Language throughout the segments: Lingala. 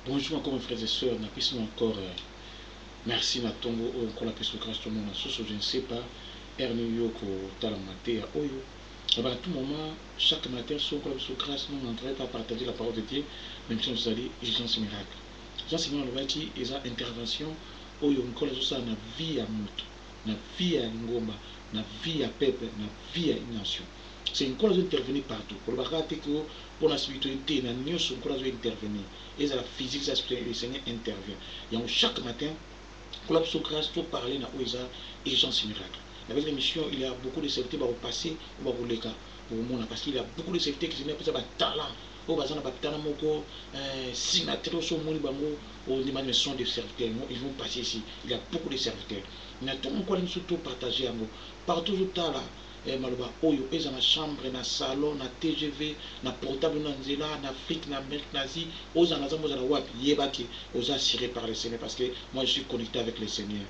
Bonjour encore mes frères et sœurs na pesi encore merci na tongo oyo nkolo apesi yo grace tomona lisusu je ne sais pas heure nini yo okotala mateya oyo mais à tout moment chaque matin soki nkolo apesi yo grace non en vrai pas partager la parole de Dieu mais biso tozali urgence miracle Jean Simon alobaki eza intervention oyo nkolo azosala na vie ya moto na vie ya lingomba na vie ya peuple na vie ya une nation c'est nkolo azo intervenir partout koloba kaka te que pona spirituel te na nioso nkolo azo intervenir ezala physique ezala spirituel le seigneur intervient yango chaque matin nkolo apeso grace to parler na oyo eza urgence miracle na belle emission il ya beaucoup de serviteur bako passer ou bako leka bokomona parce qu'il ya beaucoup de serviteur que seigneur apesa ba talent oyo baza na ba talent moko eh, sima te oso omoni bango ondima mais sont des serviteurs yango ils vont passer ici il ya beaucoup de serviteurs mais to moko alingi biso to partager yango partout ozotala Eh maloba oyo ezwa na chambre, na salon, na tgv, na portable no ya nzela, na Afrique, na Amerique, na Asie, ozala na zamba ozala wapi yeba que oza assure par le Seigneur parce que moi je suis connecte avec le Seigneur.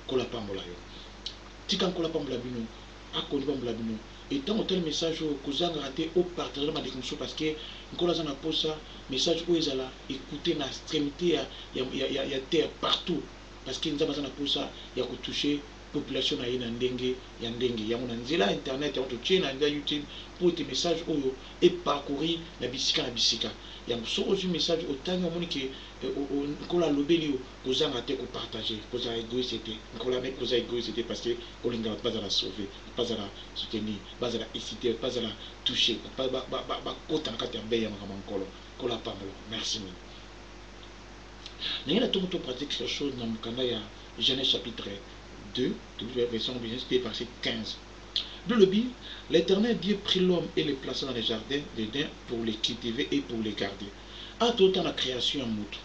Nkolo apambola yo. Tika Nkolo apambola bino. Akondi pambola bino. Et tango otali message oyo kozangaka te o partager na bandeko mosusu parce que Nkolo aza na posa message oyo ezala ecoute na extremite ya, ya, ya, ya, ya terre partout parce que Nzambe aza na posa ya ko toucher population na ye na ndenge ya ndenge. Yango na nzela ya internet yango totie na nzela YouTube mpo ete message oyo e parcourir na bisika na bisika. Yango soki ozui message otangi omoni ke Nkolo alobeli yo, kozanga te ko partager. Kozala egoiste te. Nkolo amebi koza egoiste te parce que olinga bato bazala sauver, bato bazala soutenir, bazala exciter, bato bazala toucher, bato bakota na kati ya bain ya makambo ya Nkolo. Nkolo apambola yo. Merci mingi. Ndenge na tongi to pratique sur chose na mokanda ya Genese chapitre 2, tobibia version na Genese 2 verset 15. Biblia elobi, L'Eternel Dieu prit l'homme et le plaça dans le jardin d'Eden pour le cultiver et pour le garder. Awa totala creation ya mutu.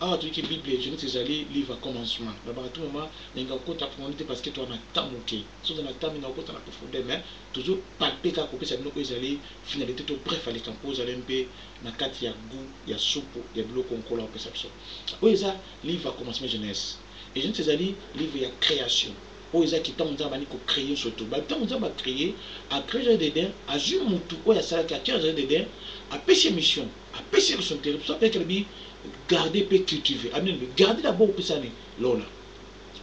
Awa toyiki Biblia Genese ezali livre ya commencement. Nalobaka tout moment, nalingaka kokota profondeur te parce que toza na temps muke. Soki ozali na temps mingi okokota na profondeur mais tozo palper kaka kopesa bino oyo ezali finalite to bref ya likambo po ozala mpe na kati ya gout ya supu ya biloko Nkolo akopesa biso. Oyo eza livre ya Commencement Genese. Et Genese ezali livre ya creation. Oyo eza ki tango Nzambe abandi ko creer nionso tout. Ba tango Nzambe a creer, a creer jardin d'Eden, azui mutu oyo asalaki atie na jardin d'Eden, apesi ye mission, apesi ye responsabilite. C'est pour ça que ayaki alobi garder pe cultiver. Alobi nini? Garder d'abord opesa nani? Lona.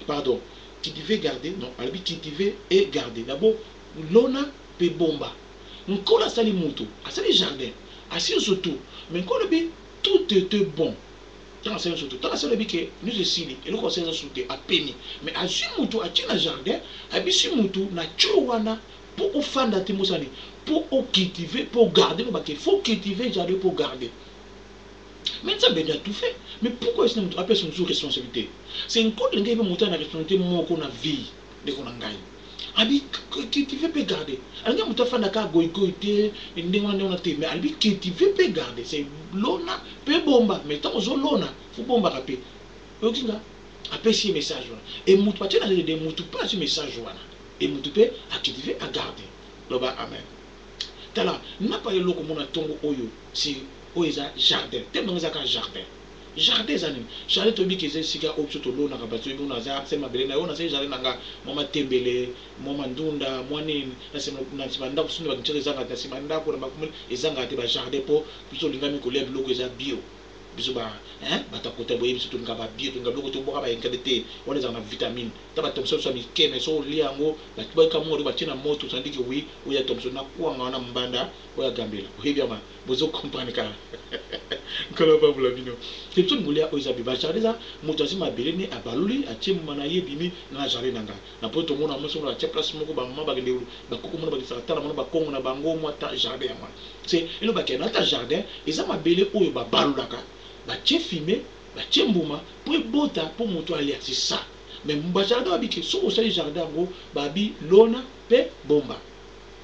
Pardon. Cultiver, garder? Non, alobi cultiver et garder. D'abord lona pe bomba. Nkolo asali moto, asali jardin, asi nionso tout mais Nkolo alobi tout ete bon tango asali nionso tout tango asi alobi ke nionso esili eloko asali eza su te apemi mais azui moto atie na jardin abisi moto na tshio wana po ofanda te mosala nini po o cultive po garde eloba ke faut cultive jardin po garde mais Nzambe nde a tout fait mais pourquoi esi na moto apesa mosusu responsabilite c'est Nkolo alingi ayeba moto aza na responsabilite moko na vie Ndeko na ngai alobi cultiver pe garder alingi mutu afanda kaka goyi goyi te ndenge wana ndenge wana te mais alobi cultiver pe garder c'est lona pe bomba mais tango ozo lona faut obombaka pe oyoki nga apesi ye message wana et mutu batie na lede mutu pe azui message wana et mutu pe a cultiver a garder loba amen tala napa eloko mona tongo oyo si oyo eza jardin te nanga eza kaka jardin Jardin eza nini? Jardin toyebi ke eza esika oyo biso tolonaka ba toyebi wana eza se mabele nayo nasali jardin na nga mua matembele mua ma ndunda mua nini na sima na sima ndaku sinon ba kinshasa ezangate na sima ndaku na makume ezangaka te ba jardin po biso tolingami kolia biloko eza bio biso ba hein batu ya kota boyebi biso tolingaka ba bio tolingaka biloko tobuaka ba engrais te wana ezalaka na vitamine ata ba tomson biso ya mike mais soki olia yango ba kamua yango batie na moto ça veut dire que oui oyo ya tomson na kuanga wana mbanda oyo ya gambela oyebi yango. Bozo comprendre ka Nkolo apambola bino. Simpson Ngulia oyo eza be ba jardin eza mutu azui mabele ne abaluli atie mbuma na ye ebimi na jardin na nga na poto tomona mwasi moko atie place moko ba maman bakende ba koko mona bakisaka tala mona ba kongo na bango mwa ta jardin ya mwana se elobaki na ta jardin eza mabele oyo ba balulaka batie fime batie mbuma po ebota po mutu alia se sa me ba jardin babike soki osali jardin yango babi lona pe bomba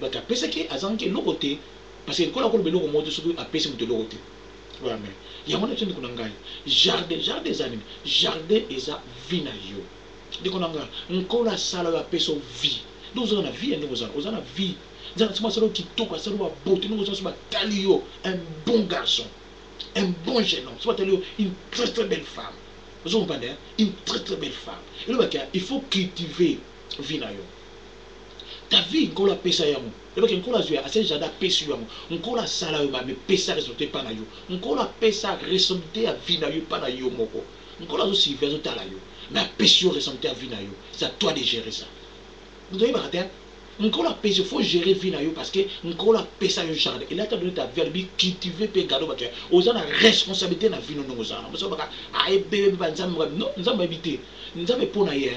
But apesaki azangaki eloko te parce que lokola akoloba eloko moko te soki apesi mutu eloko te voilà mais yango wana biso ndeko na ngai jardin jardin eza nini jardin eza vie na yo ndeko na nga nkolo asala yo apesa yo vie nde oza na vie ya ndenge oza oza na vie nzambe asima asala yo kitoko asala yo ba beaute ndenge oza so batali yo un bon garçon un bon jeune homme so batali yo une très très belle femme ozo comprendre une très très belle femme elobaki il faut cultiver vie na yo Ta vie nkolo apesa yo yango yeba ke nkolo azwi asali jardin apesi yo yango nkolo asala yo mabe pesa resultat epa na yo nkolo apesa resolutat ya vie na yo epa na yo moko nkolo azo surveille azo tala yo mais apesi yo resolutat ya vie na yo c'est à toi de gerer ça moto oyebaka te nkolo apesi yo faut gerer vie na yo parce que nkolo apesa yo jardin il a ta donner ta vie alobi cultiver pe garder bato ya oza na responsabilité na vie no ndenge oza na moto oyebaka ah ebebe ba nzambe non nzambe ayebi te nzambe po na ye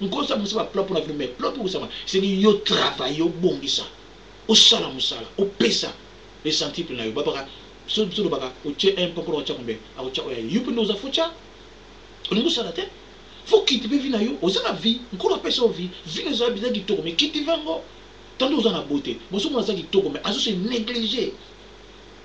Nkoso abimisa ba plans pona bino mais plan ebongisama esengi yo travailler obongisa osala musala opesa le centuple nayo babaka biso biso tolobaka otie un pokora otia combien akotia oyo aye yo pe nde oza faut ca olingi osala te faut cultiver vie nayo oza na vie nkolo apesa yo vie vie nayo eza eza kitoko mais cultiver yango tantôt oza na beaute mais ozo mona aza kitoko mais azo se negliger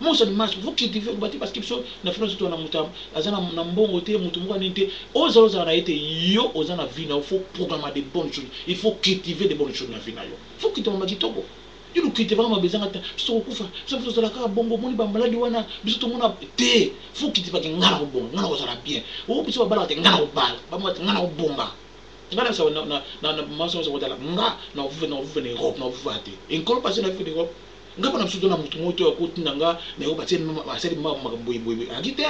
Monso ni masque faut cultiver oloba te parce que biso na France to na mutu aza na mbongo te mutu moko nini te oyo zala ozala na ye te yo oza na vie na yo faut programma de bonne chose il faut cultiver de bonne chose na vie na yo faut cultiver ma kitoko yo lu cultiver nga ma beza nga ta biso toko kufa biso na biso zala kaka bongo moni ba maladi wana biso to mona te faut cultiver ke nga na ko bonga nga na ko zala bien o biso ba bala te nga na ko bala ba mwa te nga na ko bomba nga na biso na na na ma biso na biso ko tala nga na ko vuva na ko vuva na Europe na ko vuva te en kolo passe na vuva na Europe Nga bana biso to na mutu moko to ya koti na nga na yo batie asali mama makambo boye boye boye adi te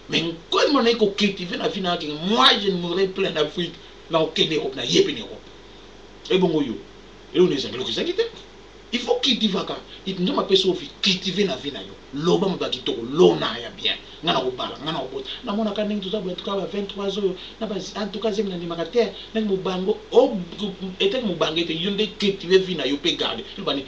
mais nkoli mwana iko cultiver na vie na yake moi je ne mourrai plus en Afrique na kokende Europe na ye pe na Europe ebongo yo elo na ezangi eloko ezangi te il faut cultivaka nzambe apesi yo vie cultiver na vie na yo loba maba kitoko lona ya bien nga na kobala nga na kobota na mona ka ndenge toza boye tuka ba 23 ans oyo na ba en tout cas zemi na ndimaka te ndenge mobango o etaki mobange te yo nde cultiver vie na yo pe garde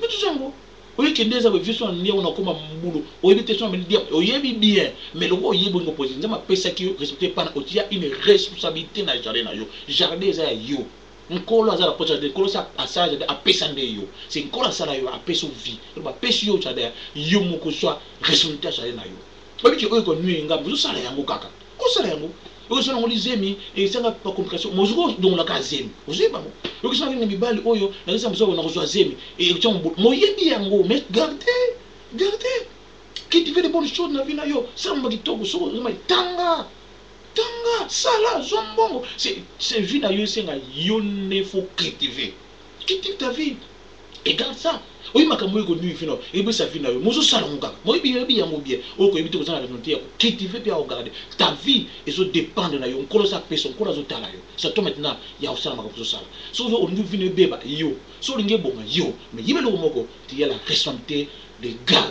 Mutu zongo oye kende eza boye vieux son andy awa nakoma mubulu oyebi te son ameli diamba oyebi bien mais lokola oyebi olingi opose nzambe apesaki yo respecte epana otia une responsabilite na jardin na yo jardin eza ya yo nkolo aza na posa te nkolo se asala jardin apesa nde yo se nkolo asala yo apesi yo vie eloba apesi yo jardin yo moko zua responsabilite ya jardin na yo oyebi ke oyo eko nuire nga mais ozo sala yango kaka Kosala yango oyo sala ngoli zemi esanga ba complication mozu ko dongola ka zemi ozui bango oyo kisanga na mibali oyo na kisa mzoko na kozua zemi et otia mo moyebi yango mais garde garde qui te fait de bonnes choses na vie na yo sala mba kitoko soko ozuma tanga tanga sala zua mbongo c'est c'est vie na yo esenga yo nde faut cultiver Qui dit ta vie Egal ça oyebi makambo oyo ekonuire vie na yo ekopesa vie na yo mais ozosala yango kaka mais oyebi oyebi yango bien oyo koyebi te oza na raison te ya ko cultiver pe ya ko garder ta vie ezo dependre na yo nkolo aza peso nkolo azo tala yo c'est à toi maintenant ya kosala makambo ozosala soki ozo olingi vie na yo ebeba yo soki olingi ebonga yo mais yeba eloko moko tu as la responsabilite de garder